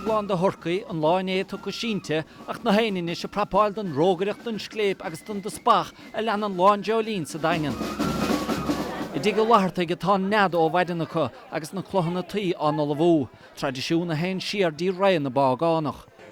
Bolg lán de thurcaí an lá inné tugtha sínte ach na héin anois ag prapáil don rógaireacht, don scléip agus don dteaspach a leanann Lá an Dreoilín sa Daingean. I dTigh Uí Fhlathartaigh atá an nead ó mhaidin acu agus na culaitheanna tuí á n-ullmhú, traidisiún a théann siar dtí ré na bpágánach.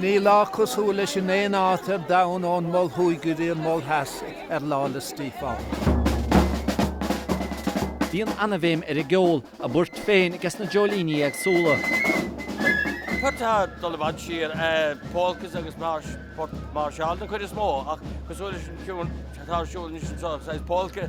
Níl lá cosúil leis in aon áit ar domhan ón Mol Thuaidh go dtí an Mol Theas ar Lá 'le Stíofáin. Bíonn ana-bhéim ar an gceol, a bpoirt féin ages na dreoilíní éagsúla. Poirt atá ag dul i bhfad siar, polkas agus marsh, poirt máirseáil den chuid is mó, ach cosúil leis an tiúin atá ar siúl anois anseo, saghas polka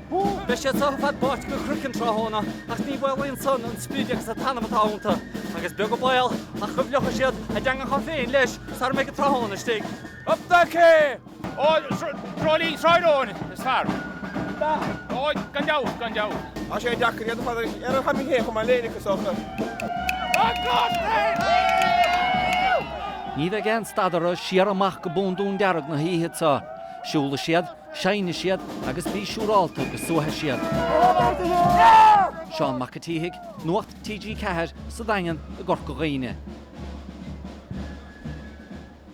Beidh siad seo ar fad báite go croiceann tráthnóna ach ní mhaolaíonn san an sprid agus an t-anam atá iontu agus beag an baol ach go bhfliuchfaidh siad a dteangacha féin leis sara mbeidh an tráthnóna istigh. Up the Quay! Ó, Dreoilín Shráid Eoin is fearr. Ó, gan dabht, gan dabht. Tá sé deacair iad a chur ar an chaipín féin chomh maith linn, is dócha. An Glas Naofa! Ní bheidh aon stad orthu siar amach go bundún dearg na hoíche seo. Siúlfaidh siad Seinnfidh siad agus bí siúrálta go suaithfidh siad. Seán Mac an tSíthigh, Nuacht TG4, sa Daingean i gCorca Dhuibhne.